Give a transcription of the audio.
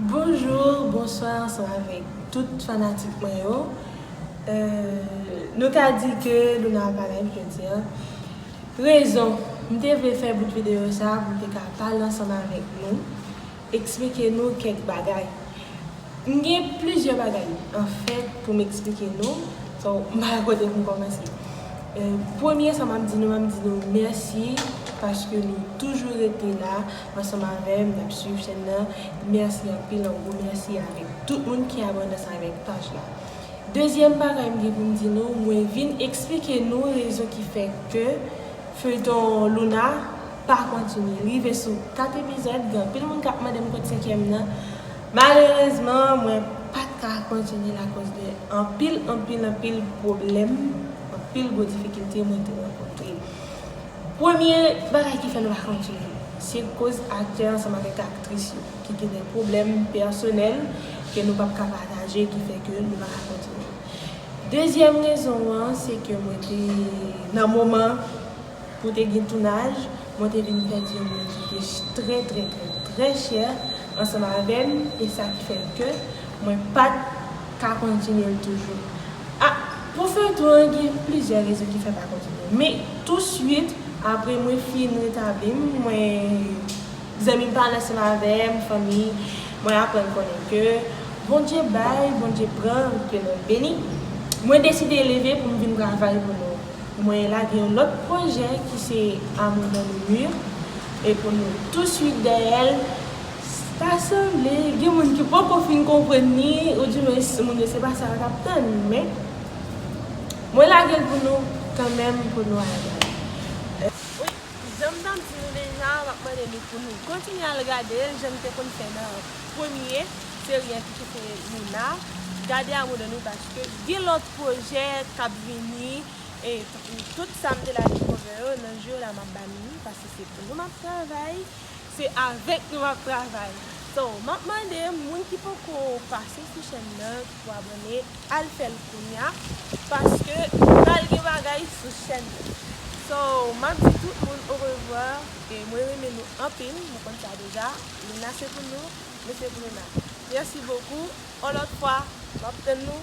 Bonjour bonsoir sa avèk tout fanatik mwen yo Nou ka di ke Luna ap alèv jodi an Rezon m te vle fè bout videyo sa pou m te ka pale ansanm avèk nou Eksplike nou kèk bagay M gen plizyè bagay anfèt pou m eksplike nou So m pa wè kote pou m kòmanse Premye sa m ap di nou m ap di nou mèsi Paske nou toujou rete la ansanm avèm nap swiv chèn nan merci anpil yon gwo merci avèk tout moun ki abonnés avèk paj la dezyèm bagay m gen pou m di nou mwen vin eksplike nou rezon ki fè ke feyton Louna pa kontinye li rive sou 4 epizòd gen anpil moun kap mandem kot senkyèm nan malerezman mwen pat ka kontinyel akoz de anpil anpil anpil pwoblèm anpil gwo difikilte mwen te rankontre. Premye bagay ki fè nou pa konn toujou, se koz aktè ansanm avèk aktris yo ki gen dè pwoblèm pèsonèl ke nou pap ka pataje ki fè ke nou pa ka kontinye. Dezyèm rezon an se ke mwen te nan moman pou te gen tounaj, mwen te vin pèdi yon moun ki te trè trè trè trè chè ansanm avèm e sa ki fè ke mwen pat ka kontinye l toujou a pou feyton an gen plizyè rezon ki fè pa kontinye men tou swit apre mwen fin retabli m mwen zanmi m pa nan seum avè m fanmi mwen aprann konnen ke Bondye bay Bondye pran ke nou beni mwen deside leve pou m vin travay pou nou mwen lage yon lòt pwojè ki se amour dans le mur e pou nou tou swit dèyè l Ta sanble gen moun ki poko fin konprann ni ou di mens moun yo se pa sa yo tap tann men mwen lage l pou nou kanmenm pou nou al gade. Wi, janm ta di nou deja map mande nou pou nou kontinye al gade l janm te konn fè nan premye seri an ki se Luna gade amour de nous paske gen lòt pwojè kap vini e tankou tout sam te lage cover yo nan jou yo la map ba nou li paske se pou nou map travay. Se avèk nou map travay. So map mande moun ki poko pase sou chèn nan ki pou abòne al fèl kounya paske pral gen bagay sou chèn nan so map di tout moun orevwa e mwen renmen nou anpil nou konn sa deja luna se pou nou nou se pou luna merci beaucoup on lòt fwa map tann nou.